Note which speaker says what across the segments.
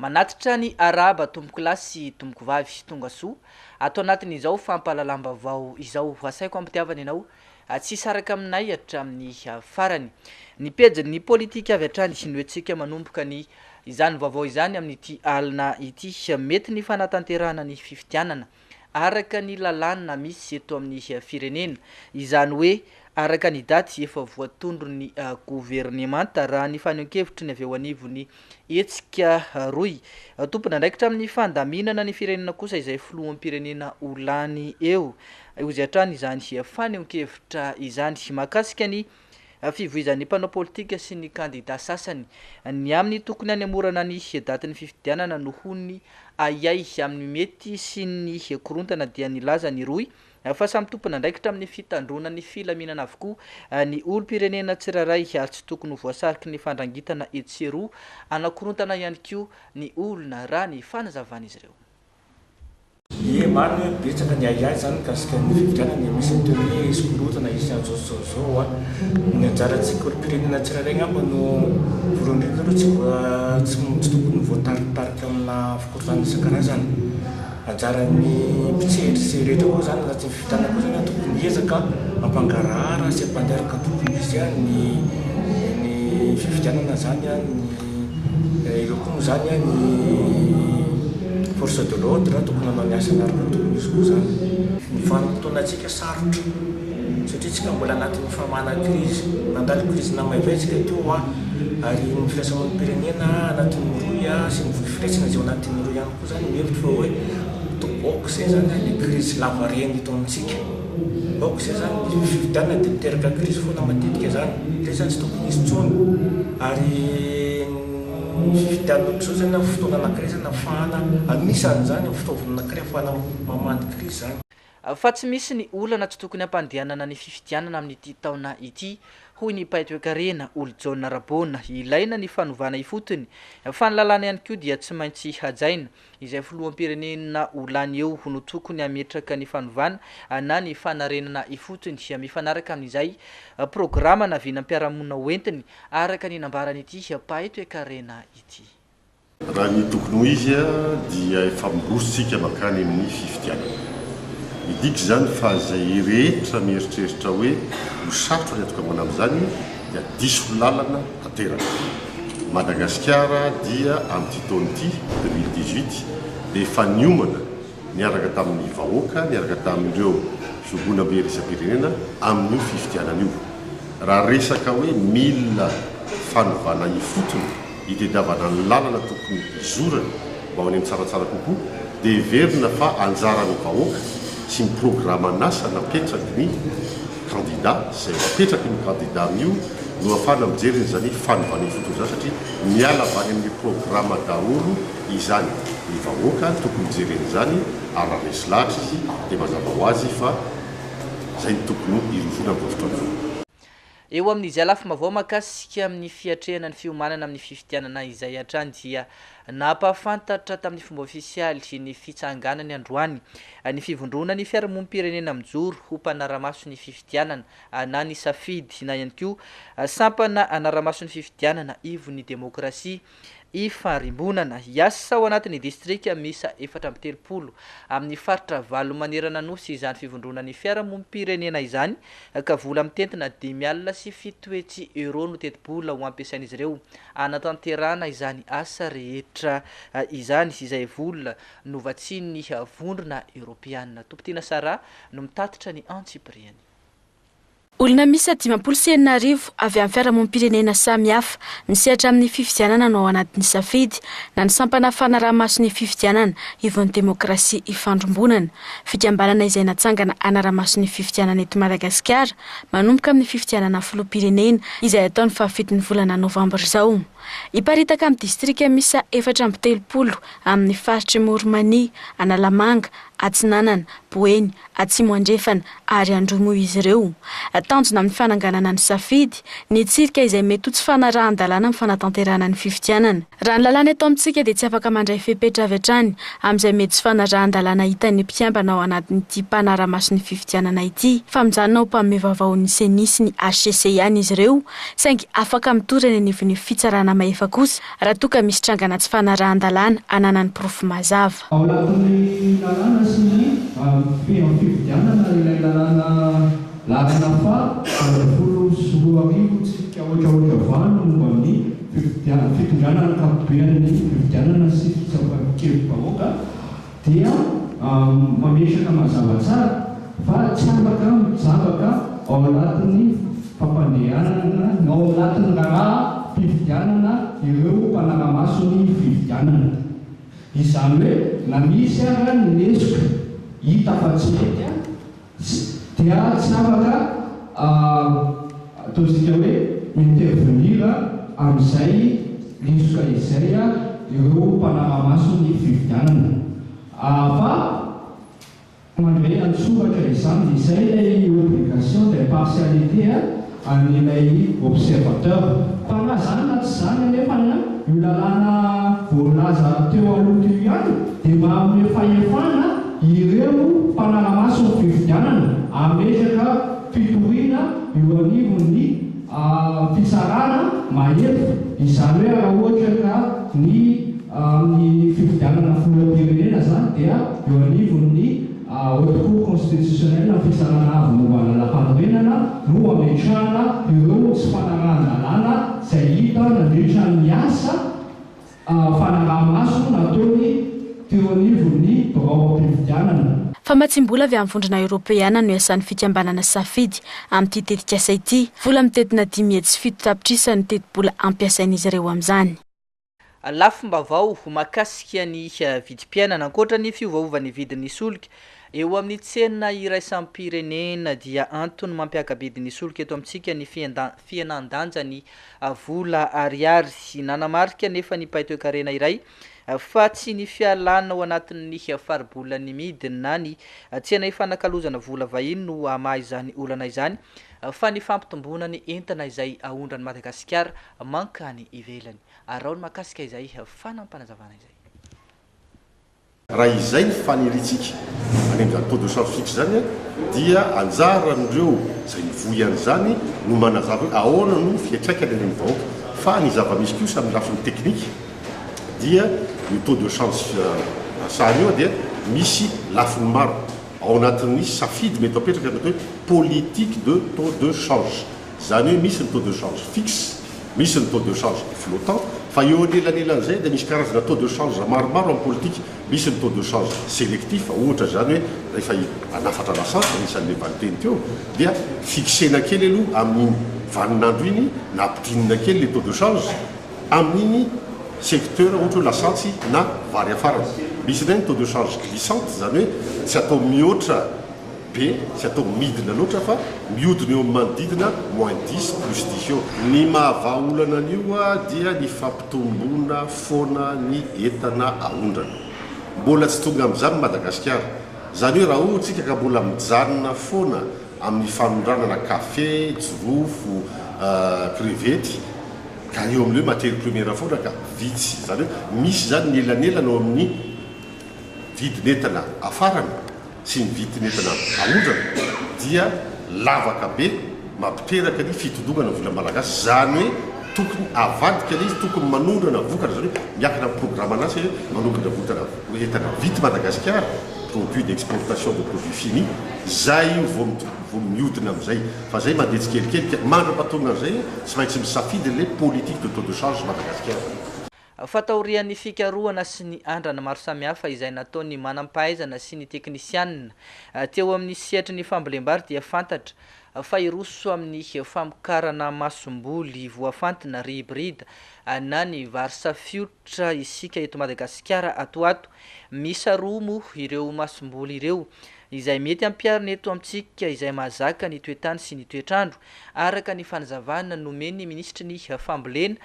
Speaker 1: Manatitra ny arahaba tompokolahy sy tompokovavy tongasoa ato anatin'izao fampahalalam-baovao izao. Asaiko ampitiavana ianao tsy hisaraka aminay hatramin'ny farany. Ny pejin'ny politika avy hatrany no entintsika manomboka ny izany vaovao izany amin'ity alina ity. Mety ny fanatanterahana ny fifidianana. araka ny lalàna misy eto amin'ny firenena, izany hoe araka ny daty efa voatondron'ny governemanta, raha ny fanehoan-kevitry ny avy eo anivon'ny hetsika rohy tompon'andraikitra amin'ny fandaminana ny firenena kosa izay filoham-pirenena ho lany eo, hozy hatrany izany fanehoan-kevitra izany mahakasika ny. fivoizan'ny mpanao politika sy ny kandida sasany ny amin'ny tokony hanemorana ny datin'ny fifidianana noho ny ahiahy amin'ny mety sy ny korontana dia nilaza ny rohy fa samy tompon'andraikitra amin'ny fitandroana ny filaminana avokoa ny olom-pirenena tsirairay ary tsy tokony ho voasariky ny fandrangitana etsy sy eroa anakorontana ihany koa ny olona raha ny fanazavan'izy ireo.
Speaker 2: Ie marina hoe betsaka ny ahiahy zany mikasika ny fifidianana e, misy atao hoe eskorotana hisy anzao sy zao zao a, ny anjarantsika olompirenena tsirairay ngamba no voalohany ndrindra aloha tsy voa tsy tsy tokony voatarikitariky amina fikorontana isankarazany, anjaran'ny mpitsehatra sy rehetra koa zany raha tsy ny fifidianana koa zany a tokony hiezaka hampangarahara sy hampandeha araka ny tokony ho izy a ny ny fifidianana zany a ny. Ireo koa moa izany an, ny force de l'ordre tokony hanao ny asany ary tokony hisy koa izany. Ny vanim-potoanantsika sarotra satria isika mbola anatin'ny famahana krizy. Nandalo krizy namaivay isika teo hoa ary ny firaisamonim-pirenena anatin'ny rohy sy ny vohy firaisana izay ao anatin'ny rohy ihany koa izany mihevitra fa hoe to ok izay izany ny krizy lavareny eto amintsika. Aoka izay zany io fifidianana dia miteraka crise foana matetika zany, zay zany tsy tokony hisy tsony ary ny fifidianana amzao zany amin'ny fotoana anakiray zany afahana anisany zany fitaovana anakiray afahana mamandy crise zany. Fa tsy misy
Speaker 1: ny olana tsy tokony hampandehanana ny fifidianana amin'ity taona ity, hoy ny mpahay toekarena, Olojaona Raboana. Ilaina ny fanovana ifotony, fa ny lalàna ihany koa dia tsy maintsy hajaina. izay filoham-pirenena ho lany eo no tokony hametraka ny fanovana na ny fanarenana ifotony, mifanaraka amin'izay programa na vinam-piarahamonina hoentiny, araka ny nambaran'ity mpahay toekarena ity. Raha ny
Speaker 3: tokony ho izy dia efa miroso isika mankany amin'ny fifidianana. Midika izany fa izay rehetra mieritreritra hoe ho sarotra ny hatonga ambony amin'izany dia diso lalana tanteraka. Madagasikara dia amin'ity taona ity, deux mille dix-huit, dia efa niomana niaraka tamin'ny vahoaka, niaraka tamin'ireo fihogonambe iraisam-pirenena amin'io fifidianana io. Raha resaka hoe mila fanovana ifotony, itediavana ny lalana tokony hizorany mba ho any amin'ny tsaratsara kokoa dia heverina fa anjaran'ny vahoaka sy ny programan'asa napetraky ny kandida izay ho apetraky io kandida io no afahana mijery an'izany fanovana ifotony izany satria miala avy any amin'ny programa daholo izany ny vahoaka tokony jerena izany ary raha resy lahatra izy dia mazava ho azy fa izay no tokony hirosoana amin'izao fotoana izao. Eo amin'
Speaker 1: izay lafim-baovao mahakasika amin' ny fiatrehana ny fiomanana amin' ny fifidianana izay hatrany dia nampahafantatra tamin' ny fomba ôfisialy ny fitsanganany androany ny fivondroana ny fiarahamonim-pirenena mijoro ho mpanara-maso ny fifidianana na ny safidy na ihany koa sampana anara-maso ny fifidianana ivon' ny demôkrasia Ifarimbonana hiasa ao anatin'ny distrika miisa efatra amby telopolo amin'ny faritra valo manerana Nosy izany fivondronan'ny fiarahamonim-pirenena izany ka vola mitentina dimy alina sy fito hetsy euros no tetibola ho ampiasain'izy ireo hanatanterahana izany asa rehetra izany izay vola novatsian'ny Vondrona Eoropeana. Tompon-tiana Sarah no mitatitra ny antsipiriany.
Speaker 4: Olona miisa dimampolo sy enina arivo avy amin'ny fiarahamonim-pirenena samihafa misehatra amin'ny fifidianana no ao anatin'ny safidy na ny sampana fanaraha-maso ny fifidianana ivon'ny demokrasia ifandrimbonana, fikambanana izay natsangana hanara-maso ny fifidianana eto Madagasikara manomboka amin'ny fifidianana filoham-pirenena izay hatao ny fahafitony volana novambra izao. Hiparitaka amin'ny distrika miisa efatra amby telopolo amin'ny faritr'i Morimania, Analamanga, Atsinanana, Boeny, Atsimo Andrefana ary Androy moa izy ireo. Tanjona amin'ny fananganana ny safidy, ny hitsirika izay mety ho tsy fanarahan-dalàna amin'ny fanatanterahana ny fifidianana. Raha ny lalàna eto amintsika dia tsy afaka mandray fepetra avy hatrany amin'izay mety tsy fanarahan-dalàna hitan'ny mpikambana ao anatin'ity mpanara-maso ny fifidianana ity fa mijanona ho mpamehy vaovaon'ny Ceni sy ny hcc ihany izy ireo saingy afaka mitory eny anivon'ny fitsarana mahefa kosa raha toa ka misy trangana tsy fanarahan-dalàna ananany porofo mazava. Ao anatin'ny
Speaker 5: lalàna sy ny feham pifidianana ilay lalàna lalana faha valo ambin'ny folo sy roa arivo tsipika haotrahoatra valo momba ny fifidianana, fitondrana ankapobean'ny fifidianana sy fitsaoran-kevi-bahoaka, dia mametraka mazava tsara fa tsy afaka mijabaka ao anatin'ny fampandehanana na ao anatin'ny raharaham-pifidianana ireo mpanara-maso ny fifidianana. Izany hoe na misy ara ny lesoka hita fa tsy mety, Tsy dia tsy afaka ataontsika hoe intervenir amin'izay lesoka izay ireo mpanara-maso ny fifidianana. Fa mandray an-tsoratra izany. Izay ilay obligation d'impartialité. an'ilay observateur. Fa na zany na tsy zany anefa ny an io lalàna voalaza teo aloha teo ihany dia mba hanome fahefana ireo mpanara-maso ny fifidianana hametraka fitoriana eo anivon'ny fitsarana mahefa izany hoe raha ohatra ka ny amin'ny fifidianana filoham-pirenena zany dia eo anivon'ny Haute Cour Constitutionnelle ny fisarahana avy momba ny lalàmpanorenana no hametrahana ireo tsy fanarahan-dalàna izay hita nandritra ny asa fanaraha-maso nataony teo anivon'ny biraom-pifidianana. Famatsiam-bola avy
Speaker 4: amin'ny Vondrona Eoropeana no iasan'ny fikambanana Safidy amin'ity tetikasa ity. Vola midentina dimy hetsy sy fito tapitrisa no tetibola ampiasain'izy ireo amin'izany. Lafim-baovao
Speaker 1: mahakasika ny vidim-piainana, Ankoatra ny fiovaovan'ny vidin'ny solika eo amin'ny tsena iraisam-pirenena dia antony mampiaka-bidy ny solika eto amintsika ny fihenan-danjan'ny vola ariary. Nanamarika anefa ny mpahay toekarena iray fa tsy ny fialana ao anatin'ny faribolan'ny midina ny tsena ifanakalozana vola vahiny no hamaha izany olana izany. Fa ny fampitomboana ny entana izay aondran'i Madagasikara mankany ivelany. Araho ny mahakasika izay fanampanazavana izay.
Speaker 3: Raha izay ny faniriantsika any amin'izany taux de change fixe izany dia anjaran'ireo izay mivoy an'izany no manazava hoe ahoana no fiantraikany any amin'ny vahoaka. Fa ny zava-misy kosa amin'ny lafiny teknika dia io taux de change sary io dia misy lafiny maro. Ao anatin'ny safidy mety apetraka ny atao hoe politique de taux de change. Izany hoe misy ny taux de change fixe, misy ny taux de change flottant, fa eo anelanelan'izay dia misy karazana taux de change maromaro amin'ny politika. Misy ny taux de change sélectif, ohatra izany hoe rehefa hanafatra lasantsy, anisan'ilay valinteny teo, dia fixena kely aloha amin'iny vanin'andro iny na ampidrinina kely ilay taux de change, amin'iny secteur ohatra hoe lasantsy na vary afarana. Misy indray ny taux de charge glissante, izany hoe tsy atao mihoatra be, tsy atao midina loatra fa mihodina eo amin'ny manodidina moins dix, plus dix eo. Ny mahavaha olana an'io dia ny fampitomboana foana ny entana aondrana. Mbola tsy tonga amin'izany i Madagasikara. Izany hoe raha hoy isika ka mbola mijanona foana, amin'ny fanondranana kafe, jirofo, krevety, ka eo amin'ireo matery primiera foana ka vitsy, izany hoe misy izany ny elanelana eo amin'ny vidin'entana afarana sy ny vidin'entana aondrana dia lavaka be mampiteraka ny fitodogana ny vola malagasy, izany hoe tokony avadika ilay izy, tokony manondrana vokatra, izany hoe miakina amin'ny programan'asa hoe manondrana votana, entana vita i Madagasikara. produit d'exportation de produit fini, zay io vao vao miodina amizay, fa zay mandeha tsikelikely ka mandra-patonona anizay tsy maintsy misafidy le politique de taux de change Madagascar. Fa taorian'ny
Speaker 1: fikarohana sy ny andrana maro samihafa izay nataon'ny manam-pahaizana sy ny teknisianina teo amin'ny sehatry ny fambolem-bary dia fantatra fa hiroso amin'ny famokarana masomboly voafantina, hybrid, na ny vary safio, Ohatra isika eto Madagasikara ato ho ato, miisa roa moa ireo masomboly ireo izay mety ampiharina eto amintsika izay mahazaka ny toetany sy ny toetr'andro, araka ny fanazavana nomen'ny minisitry ny fambolena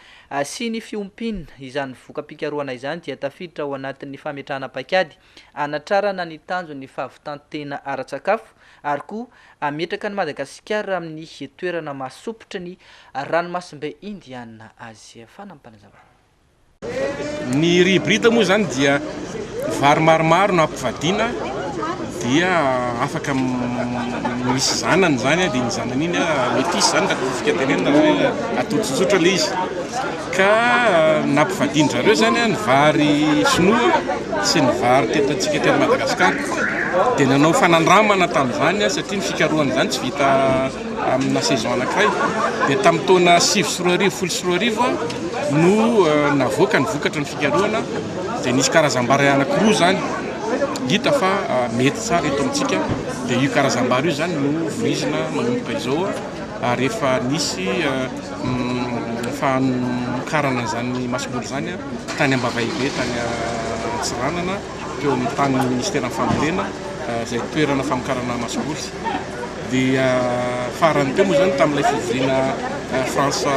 Speaker 1: sy ny fiompiana. Izany voka-pikarohana izany dia tafiditra ao anatin'ny fametrahana paikady hanatrarana ny tanjon'ny fahavitan-tena ara-tsakafo ary koa hametraka an'i Madagasikara amin'ny toerana maha-sopitry ny ranomasimbe Indiana azy. Fanampin'izany.
Speaker 6: Ny rihibrita moa izany dia vary maromaro no ampivadiana dia afaka misy zanany izany dia iny zanany iny métis izany raha tafidika tenenina hoe atody tsotsotra ilay izy ka nampivadian-dry zareo izany ny vary sinoa sy ny vary teto antsika teto Madagasikara dia nanao fanandramana tamin'izany satria ny fikarohana izany tsy vita Amina saison anankiray dia tamin'ny taona sivy sy roa arivo, folo sy roa arivo no navoaka ny vokatra ny fikarohana dia nisy karazam-bary anankiroa izany hita fa mety tsara eto amintsika dia io karazam-bary io izany no voizina manomboka izao ary efa nisy fanokarana izany masobory izany tany Ambavahibe tany Antsiranana teo amin'ny tanin'ny Ministeran'ny Fambolena izay toerana famokarana masomboly. Dia farany teo moa izany tamin'ilay fivoriana France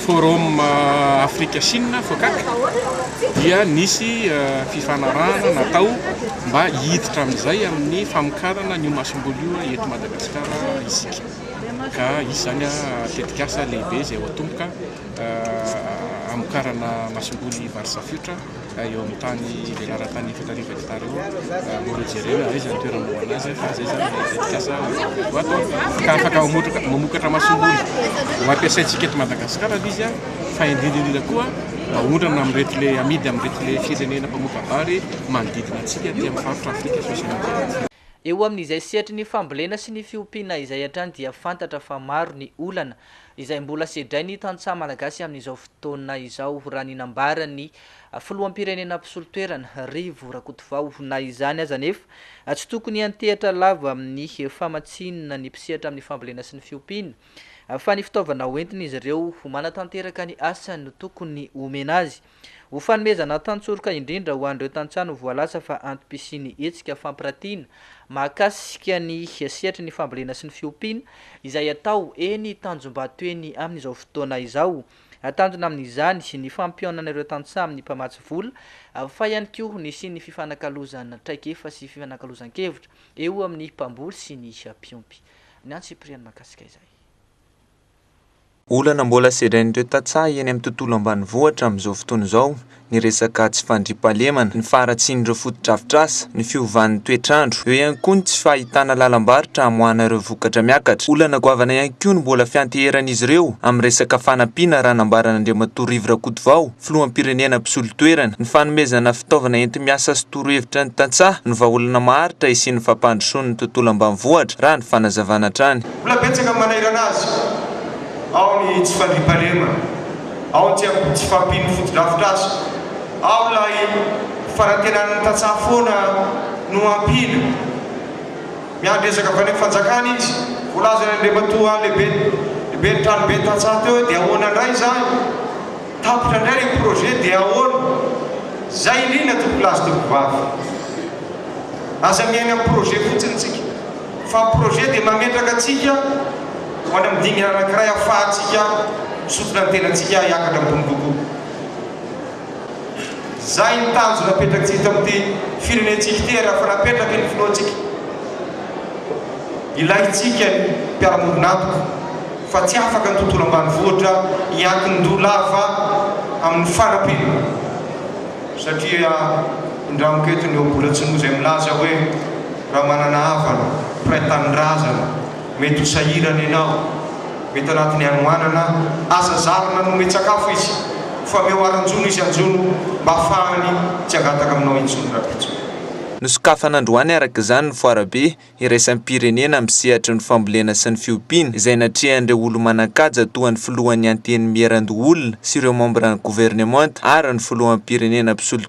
Speaker 6: Forum Afrika Chine, FOCAC, dia nisy fifanarahana natao mba hiditra amin'izay amin'ny famokarana an'io masomboly io eto Madagasikara isika. Ka izy izany tetikasa lehibe izay ho atomboka hamokarana masomboly Varsafiotra. eo amin'ny tany velaran-tany efatra arivo hekitara eo raha mora jerena hoe aiza ny toerana hanaovana azy fa izay izany ilay tetikasa ho atao ka afaka mamotraka mamokatra masomboly ho ampiasaintsika eto Madagasikara ilay izy fa indrindra indrindra koa haondrana amin'ireto le amidy amin'ireto le firenena mpamoka-bary manodidina antsika aty amin'ny faritra Afrika sosona aty amintsika. Eo amin'izay
Speaker 1: sehatry ny fambolena sy ny fiompiana izay hatrany dia fantatra fa maro ny olana izay mbola sedrain'ny tantsaha malagasy amin'izao fotoana izao, raha ny nambaran'ny filoham-pirenena mpisolo toerana, Rivo Rakotovao. Na izany aza anefa, tsy tokony hiantehatra lava amin'ny famatsiana ny mpisehatra amin'ny fambolena sy ny fiompiana, fa ny fitaovana hoentin'izy ireo ho manatanteraka ny asany no tokony homena azy. Ho fanomezana tantsoroka indrindra ho an'ireo tantsaha no voalaza fa antom-pisian'ny hetsika fampiratiana mahakasika ny sehatry ny fambolena sy ny fiompiana izay atao eny Tanjombato eny amin'izao fotoana izao. Tanjona amin'izany ny fampihaonana ireo tantsaha amin'ny mpamatsy vola fa ihany koa nisian'ny fifanakalozana traikefa sy fifanakalozan-kevitra eo amin'ny mpamboly sy ny mpiompy. Ny antsipiriany mahakasika izay. Olana
Speaker 7: mbola sedrain'ireo tantsaha eny amin'ny tontolo ambanivohitra amin'izao fotoana izao ny resaka tsy fandriampahalemana, ny faharatsian'ireo fotodrafitrasa, ny fiovan'ny toetr'andro. Eo ihany koa ny tsy fahitana lalam-barotra hamoahana ireo vokatra miakatra. Olana goavana ihany koa no mbola fianteheran'izy ireo amin'ny resaka fanampiana raha nambaran'Andriamatoa Rivo Rakotovao, filoham-pirenena mpisolo toerana. Ny fanomezana fitaovana enti-miasa sy torohevitra ny tantsaha no vahaolana maharitra hisian'ny fampandrosoan'ny tontolo ambanivohitra raha ny fanazavana hatrany. Mbola betsaka ny manahirana azy,
Speaker 8: ao ny tsy fandriampahalemana, ao ny tsy fahampian'ny fotodrafitrasa, ao ilay fanantenan'ny tantsaha foana no hampiana. Miandry ezaka avy any amin'ny fanjakana izy. Voalazany Andriamatoa lehiben'ny tranoben'ny tantsaha teo hoe dia ahoana indray izany? Tapitra indray ilay projet dia ahoana? Izay indrindra tompokolahy sy tompokovavy. Aza miaina amin'ny projet fotsiny isika. Fa ny projet dia mametraka antsika ho any amin'ny dingana anankiray ahafahantsika misontina ny tenantsika hiakatra ambony kokoa. Izay ny tanjona apetrak'tsika eto amin'ity firenentsika ity ary efa napetraky ny Filohantsika. Ilaintsika ny mpiara-monina-antoka fa tsy afaka ny tontolo ambanivohitra hiankin-doha lava amin'ny fanampiana satria indramiko eto ny ohabola tsy noho izay milaza hoe, Raha manana havana, mpiray tanindrazana, mety ho sahirana ianao, mety anatin'ny hanoanana aza zary nanome tsakafo izy, fomeo aranjono izy anjono mba hafahany tsy hangataka aminao intsony rapitsony. Nosokafana
Speaker 7: androany araka izany ny foarabe iraisam-pirenena amin'ny sehatry ny fambolena sy ny fiompiana izay natrehan'ireo olo-manan-kaja toa ny filohan'ny Antenimierandoholona sy ireo mambran'ny governemanta ary ny filoham-pirenena mpisolo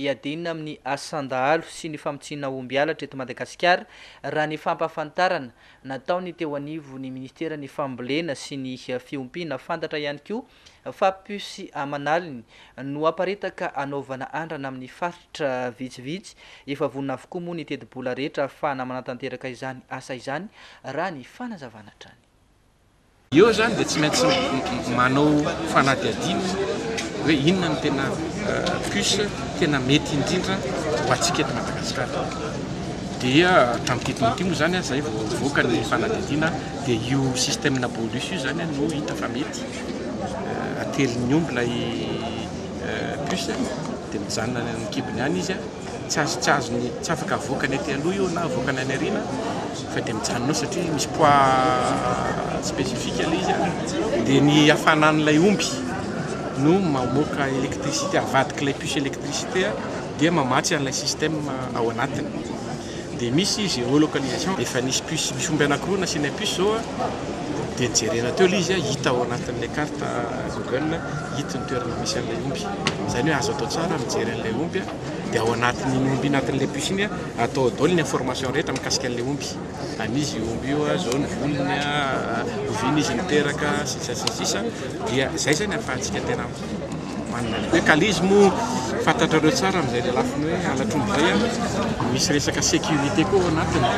Speaker 1: hiadiana amin'ny asan-dahalo sy ny famotsiana omby halatra eto Madagasikara, raha ny fampahafantarana nataon'ny teo anivon'ny Ministeran'ny Fambolena sy ny Fiompiana. Fantatra ihany koa fa puce aman'aliny no aparitaka hanaovana andrana amin'ny faritra vitsivitsy. Efa vonona avokoa moa ny tetibola rehetra ahafahana manatanteraka izany asa izany, raha ny fanazavana hatrany. Eo
Speaker 6: izany dia tsy maintsy manao fanadihadiana hoe inona no tena puce tena mety indrindra ho antsika eto Madagasikara. Dia tamin'ity taona ity moa izany izay vao nivoaka ny fanadihadiana dia io système bolus io izany no hita fa mety atelin'ny omby ilay puce dia mijanona any amin'ny kibony any izy. Tsy azo tsy azo ny tsy afaka avoakany aty aloha io na avoakany any aoriana fa dia mijanona ao satria misy poids spécifique ilay izy an! dia ny hafanan'ilay omby no mamoaka électricité avadik'ilay puce électricité dia mamatsy an'ilay système ao anatiny. dia misy géolocalisation, efa nisy puce, misy omby anakiroa nasiana puce zao a, dia jerena teo ilay izy a, hita ao anatin'ilay carte Google, hita ny toerana misy an'ilay omby, izany hoe azo atao tsara ny mijery an'ilay omby a, dia ao anatin'iny omby iny, anatin'ilay puce iny a, atao ao daholo ny information rehetra mikasika an'ilay omby, an'iza io omby io a, izao ny volony a, oviana izy niteraka, sy ny sisa sy ny sisa, dia izay izany ahafahantsika tena. Ny hoe kalizy moa fantatrareo tsara amin'izay lelafiny hoe halatr'omby izay an, misy resaka sécurité koa ao anatiny.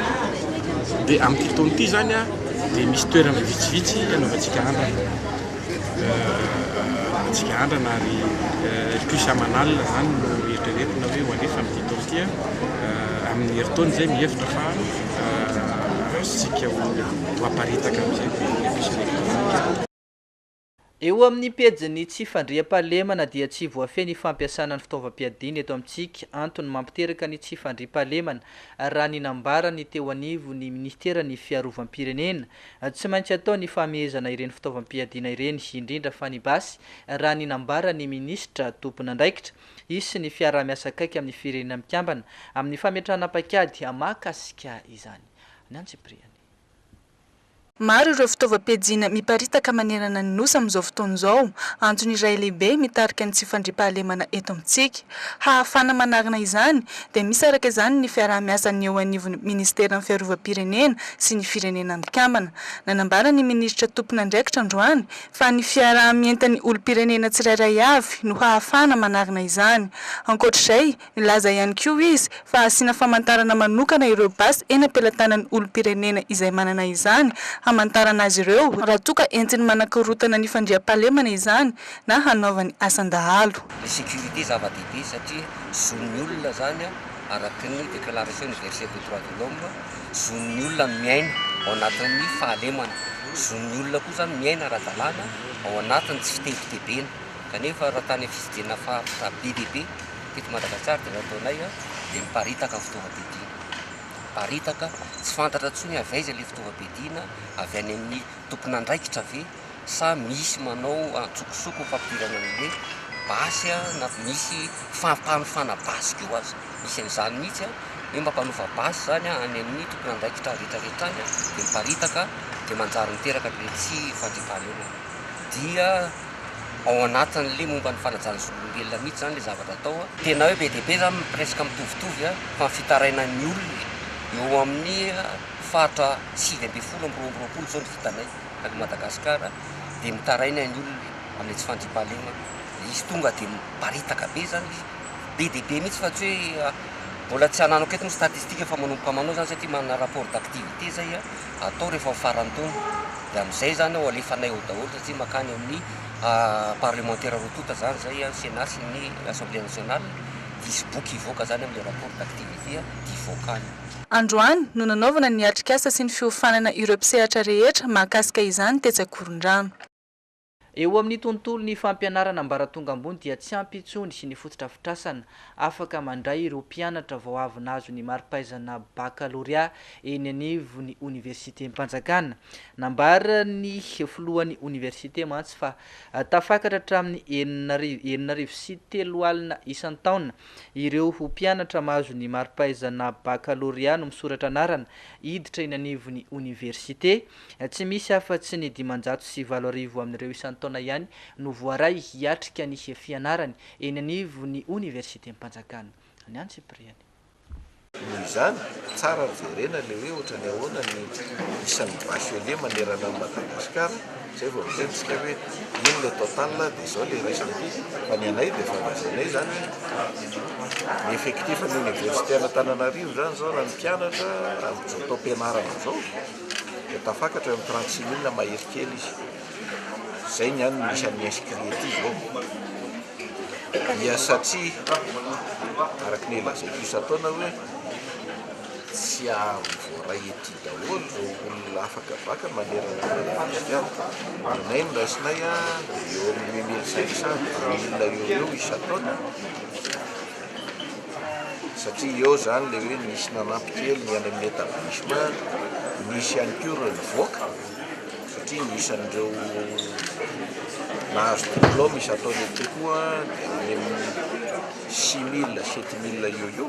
Speaker 6: Dia amin'ity taona ity izany an, dia misy toerana vitsivitsy hanaovantsika andrana. Hanaovantsika andrana ary plus aman'alina izany no eritreretina hoe ho alefa amin'ity taona ity an. Amin'ny herintaona izay mihevitra fa azontsika ho aparitaka amin'izay ny plus électronique.
Speaker 1: Eo amin'ny pejin'ny tsy fandriampahalemana dia tsy voafehy ny fampiasana ny fitaovam-piadiana eto amintsika, antony mampiteraka ny tsy fandriampahalemana, raha ny nambaran'ny teo anivon'ny minisiteran'ny Fiarovam-pirenena. Tsy maintsy atao ny fahamehezana ireny fitaovam-piadiana ireny, indrindra fa ny basy, raha ny nambaran'ny minisitra tompon'andraikitra. Hisy ny fiaraha-miasa akaiky amin'ny Firenena Mikambana amin'ny fametrahana paikady mahakasika izany. Ny antsipiriany.
Speaker 9: Maro ireo fitaovam-piadiana miparitaka manerana ny Nosy amin'izao fotoana izao. Antony iray lehibe mitarika ny tsy fandriampahalemana eto amintsika. Hahafahana manarina izany, dia misaraka izany ny fiaraha-miasan'ny eo anivon'ny Ministeran'ny Fiarovam-pirenena sy ny Firenena Mikambana. Nanambara ny Minisitra tompon'andraikitra androany, fa ny fiaraha-mientan'ny olom-pirenena tsirairay avy no hahafahana manarina izany. Ankoatra izay, Nilaza ihany koa izy fa hasiana famantarana manokana ireo basy eny am-pelatanan'ny olom-pirenena izay manana izany, hamantarana azy ireo raha toa ka entiny manakorontana ny fandriampahalemana izany na hanaovany asan-dahalo. Ny sécurité
Speaker 10: zava-dehibe satria zon'ny olona izany araka ny Déclaration Universelle des Droits de l'Homme, zon'ny olona ny miaina ao anatin'ny fahalemana, zon'ny olona koa izany miaina ara-dalàna ao anatin'ny tsy fitebitebena, kanefa raha tany amin'ny fitsidianana faritra be dia be, Teto Madagasikara dia nataonay dia niparitaka ny fitaovam-piadiana. Niparitaka, tsy fantatra intsony avy aiza ilay fitaovam-piadiana, avy any amin'ny tompon'andraikitra ve sa misy manao antsokosoko ny fampidirana an'ilay basy na misy fampanofana basy koa aza, misy an'izany mihitsy hoe mampanofa basy izany any amin'ny tompon'andraikitra rehetrarehetra any dia miparitaka dia manjary miteraka ilay tsy fandriampahalemana. Dia. ao anatin'ilay momba ny fanajana ny zon'olombelona mihitsy izany ilay zavatra atao a. Tena hoe be dia be izany presque mitovitovy a, fa ny fitarainan'ny olona eo amin'ny faritra sivy ambin'ny folo amby roa amby roapolo izao no vitanay tany Madagascar dia mitaraina ny olona amin'ilay tsy fandriampahalemana. Izy tonga dia miparitaka be izany izy, be dia be mihitsy fa tsy hoe mbola tsy ananako eto ny statistique fa manomboka manao izany satria manana rapport d'activité izay a, atao rehefa ho faran'ny taona, dia amin'izay izany ao alefanay ao daholo satria mankany amin'ny parlemantera roa tonta izany izay, ny Sénat sy ny Assemblée nationale, dia hisy boky hivoaka izany amin'ilay rapport d'activité dia hivoaka any. Androany
Speaker 9: no nanaovana ny atrikasa sy ny fiofanana ireo mpisehatra rehetra mahakasika izany tetsy Ankorondrano. Eo
Speaker 1: amin'ny tontolon'ny fampianarana ambaratonga ambony dia tsy ampy intsony ny fotodrafitrasana afaka mandray ireo mpianatra vao avy nahazo ny mari-pahaizana bakalorea eny anivon'ny oniversitem-panjakana. Nambaran'ny filohan'ny oniversite mantsy fa tafakatra hatramin'ny enina enina arivo sy telo alina isan-taona ireo mpianatra mahazo ny mari-pahaizana bakalorea no misoratra anarana hiditra eny anivon'ny oniversite Tsy misy afa-tsy ny dimanjato sy valo arivo amin'ireo isan-taona ihany no voaray hiatrika ny fianarany eny anivon'ny Oniversitem-panjakana ny antsipiriany. Noho
Speaker 11: izany, tsara ny jerena ilay hoe ohatran'ny ahoana ny isan'ny bachelier manerana an'i Madagasikara, izay vao miteny isika hoe ino ilay total dia izao ilay raisina aty, fa ny anay dia efa lazainay izany hoe ny effectif ny Oniversiten'Antananarivo izany izao raha ny mpianatra amin'izao taom-pianarana izao, dia tafakatra eo amin'ny trente six mille mahery kely izy. Izay ny an'ny isan'ny inscrits ety izao. Dia satria, araka ny lazaiko isan-taona hoe tsy azo voaray ety daholo ireo olona afaka vaka manerana an'i Madagasikara. Aminay ny raisinay dia eo amin'ny huit mille cinq cents, dimy milina eo ho eo isan-taona. satria eo zany le hoe nisy nanampy kely ny any amin'ny etablissement, nisy ihany koa ireo nivoaka satria ny isan'ireo nahazo diplôme izato any ity koa dia any amin'ny six mille, sept mille eo eo.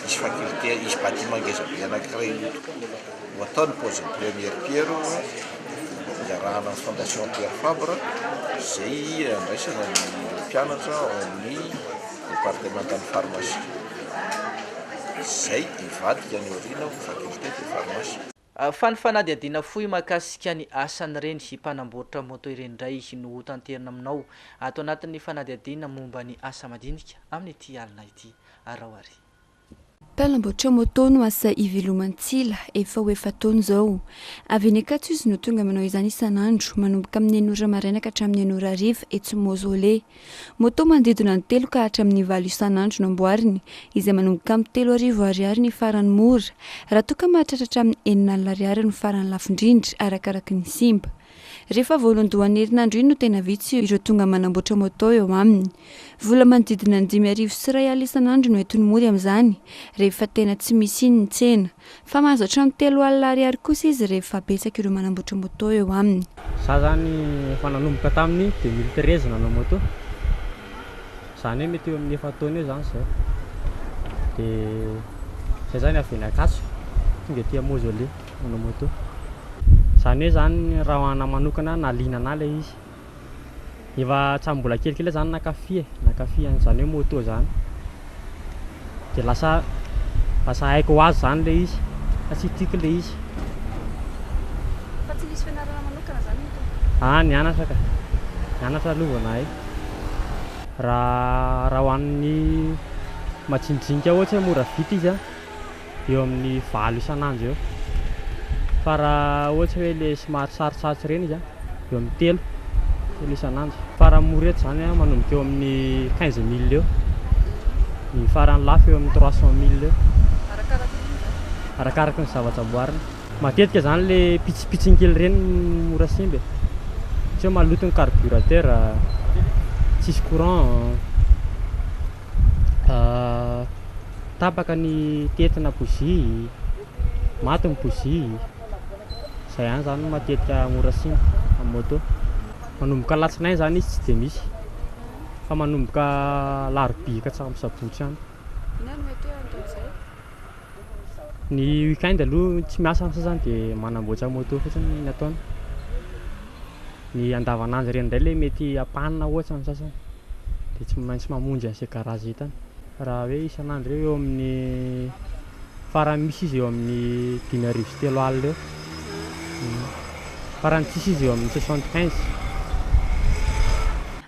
Speaker 11: Hisy faculté, hisy bâtiment ngezabe anankiray ho ho atao ny paoziny première pierre iarahana amin'ny fondation Pierre Fabre izay andraisana ny mpianatra ao amin'ny départementan'ny pharmacie izay hivadika any aoriana ho faculté de pharmacie. Fa ny
Speaker 1: fanadihadiana fohy mahakasika ny asan'ireny mpanamboatra moto ireny indray no hotanterina aminao ato anatin'ny fanadihadiana momba ny asa madinika amin'ity alina ity. Arao àry.
Speaker 12: Mpanamboatra moto no asa iveloman-tsila efa ho efa-taona izao. Avy eny Ankatso izy no tonga manao izany isan'andro, manomboka amin'ny enina ora maraina ka hatramin'ny enina ora hariva, etsy Mausolée. Moto manodidina ny telo ka hatramin'ny valo isan'andro no amboariny, izay manomboka amin'ny telo arivo Ariary ny farany mora, raha toa ka mahatratra hatramin'ny enina alina Ariary no farany lafo indrindra, arakaraky ny simba. Rehefa voalohandohan'ny herinandro iny no tena vitsy ireo tonga manamboatra moto eo aminy. Vola manodidina ny dimy arivo sy iray alina isan'andro no entiny mody amin'izany, rehefa tena tsy misy iny ny tsena. Fa mahazo hatramin'ny telo alina ariary kosa izy rehefa betsaka ireo manamboatra moto eo aminy. Za izany
Speaker 13: efa nanomboka tamin'ny deux mille treize nanao moto, izany hoe mety eo amin'ny efa-taona eo izany izao. Dia izahay izany avy eny Ankatso, tonga ety Mausolée manao moto. Izany hoe izany raha ho anà manokana na liana anà ilay izy. Efa hatramin'ny mbola kelikely aho izany nankafy e, nankafy an'izany hoe moto izany. Dia lasa lasa haiko ho azy izany ilay izy, satria tiako ilay izy. Fa tsy nisy
Speaker 12: fianarana manokana izany moto? Ah, nianatra ka,
Speaker 13: nianatra aloha vao nahay. Raha raha ho an'ny majinijinika ohatra hoe mora vita izy an. eo amin'ny valo isan'andro eo. Fa raha ohatry hoe ilay somary sarotsarotry ireny izy, eo amin'ny telo, telo isan'andro. Fa raha mora eto izany an, manomboka eo amin'ny quinze mille eo. Ny farany lafo eo amin'ny trois cent mille eo. Arakaraky ny vina. Arakaraky ny zavatra amboarina. Matetika izany ilay pitsipitsiny kely ireny no mora simba e. Tsy hoe maloto ny carburateur, tsisy courant. tapaka ny tetina bozia, maty ny bozia, izay ihany izany no matetika mora simba amin'ny moto. Manomboka alatsinainy izany izy tsy dia misy, fa manomboka alarobia ka hatramin'ny sabotsy any. Inona no mety hoe anton'izay? Ny week-end aloha tsy miasa ny sasany dia manamboatra moto fotsiny ny ataony. Ny andavanandro ireny indray ilay mety ampanina ohatra ny sasany dia tsy maintsy mamonjy an'izay garazy hitany. Raha hoe isan'andro eo eo amin'ny farany misy izy eo amin'ny dimy arivo sy telo alina eo, farany tsisy izy eo amin'ny soixante quinze.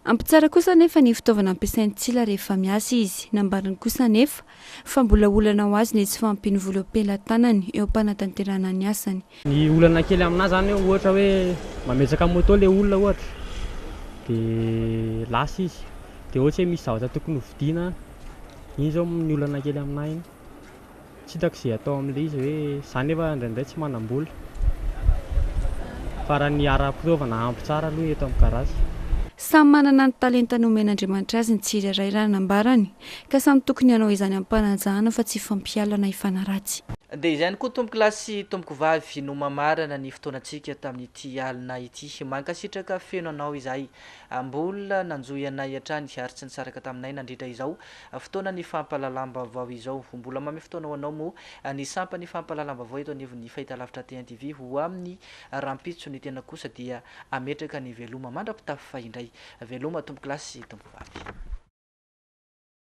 Speaker 12: Ampy tsara kosa anefa ny fitaovana ampiasain'i Tsila rehefa miasa izy. Nambariny kosa anefa fa mbola olana ho azy ny tsy fahampian'ny vola eo am-pelatanany eo am-panatanterahana ny asany. Ny olana kely
Speaker 13: aminà izany eo, ohatra hoe mametsaka moto ilay olona ohatra, dia lasa izy, dia ohatra hoe misy zavatra tokony hovidiana an, iny izao ny olana kely aminà iny. Tsy hitako izay atao amin'ilay izy hoe, izaho nefa indraindray tsy manam-bola, fa raha ny ara-pitaovana ampy tsara aloha eto amin'ny garage. Samy manana
Speaker 12: ny talenta nomen'Andriamanitra azy ny tsirairay raha nambarany. Ka samy tokony hanao izany ampanajana fa tsy fampialana hifanaratsy. Dia izay ihany koa
Speaker 1: tompoko lahy sy tompoko vavy no mamarana ny fotoanantsika tamin'ity alina ity. Mankasitraka feno anao izahay mbola nanjohy anay hatrany ary tsy nisaraka taminay nandritra izao fotoanan'ny fampahalalam-baovao izao. Ho mbola mamy fotoana ho anao moa ny sampan'ny fampahalalam-baovao eto anivon'ny Fahitalavitra TNTV ho amin'ny Rahampitso ny tena kosa dia ametraka ny veloma mandra-pitafy fa indray. Veloma tompoklasy sy tompovavy.